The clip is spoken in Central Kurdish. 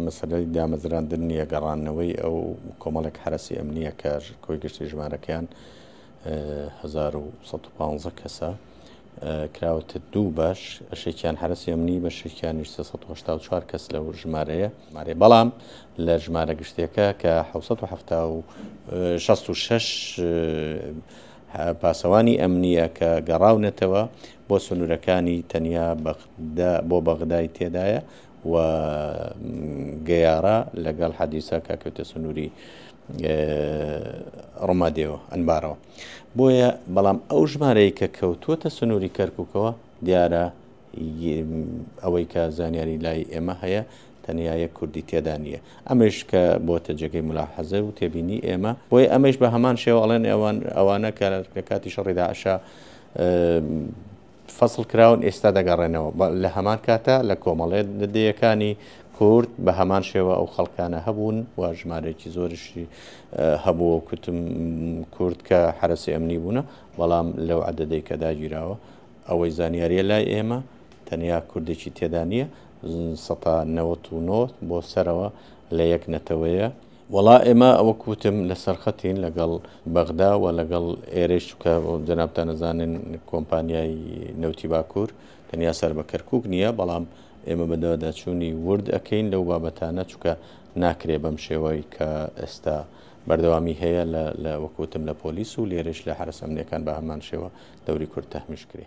مەسەلەی دامەزراندن نییە، گەڕاندنەوەی ئەو کۆمەڵێک حەرەسی ئەمنییە کە کۆی گشتی ژمارەکەیان هەزار و سەد و پانزە کەسە کراوەتە دوو بەش شێکیان حرەسی ئەمنی بە شێکیان 1970 کەس لەو ژمارەیە مارێ بەڵام لە ژمارە گشتیەکە کە 1966 پاسەوانی ئەمنیە کە گەڕاونەتەوە بۆ سنوورەکانی تەنیا بەغدا بۆ بەغدای تێدایە و گەیارا لەگەڵ حەدیسە کە کەوتە سنووری ڕمادێەوە ئەنبارەوە بۆیە بەڵام ئەو ژمارەیە کە کەوتووەتە سنووری کەرککەوە دیارە ئەوەی کە زانیاری لای ئێمە هەیە تەنیایە کوردی تێدا نییە ئەمەش کە بۆتە جێگەی ملا حەزە و تێبینی ئێمە بۆی ئەمەش بە هەمان شێواڵێن ئەوان ئەوانە کە لە کاتی شەڕیدا عشا فەسڵ کراون ئێستا دەگەڕێنەوە بە لە هەمان کاتا لە کۆمەڵێ دە دەیەکانی کورد بە هەمان شێوە ئەو خەڵکانە هەبوون و ژمارەیەکی زۆرشی هەبووە و کوتم کورد کە حرەسی ئەمنی بوونە بەڵام لەو عەدەدەی کە داگیراوە ئەوەی زانیاریە لای ئێمە تەنیا کوردێکی تێدا نییە سەتا نەوەت و نۆ بۆ سەرەوە لە یەک نەتەوەیە وەڵا ئێمە وەک وتم لەسەر خەتین لەگەڵ بەغدا و لەگەڵ ئێرەی چکە جەنابتان نەزانن کۆمپانیای نەوتی باکوور تەنیا سەر بە کەرکک نییە بەڵام ئێمە بەدەواداچوونی ورد ئەەکەین لەو بابەتانە چکە ناکرێ بەم شێوەی کە ئێستا بەردەوامی هەیە لە وەکوتم لە پۆلیس و لێرش لە حرەسەمنیەکان بە هەمان شێوە دەوری کورد تەحمیش کرێ.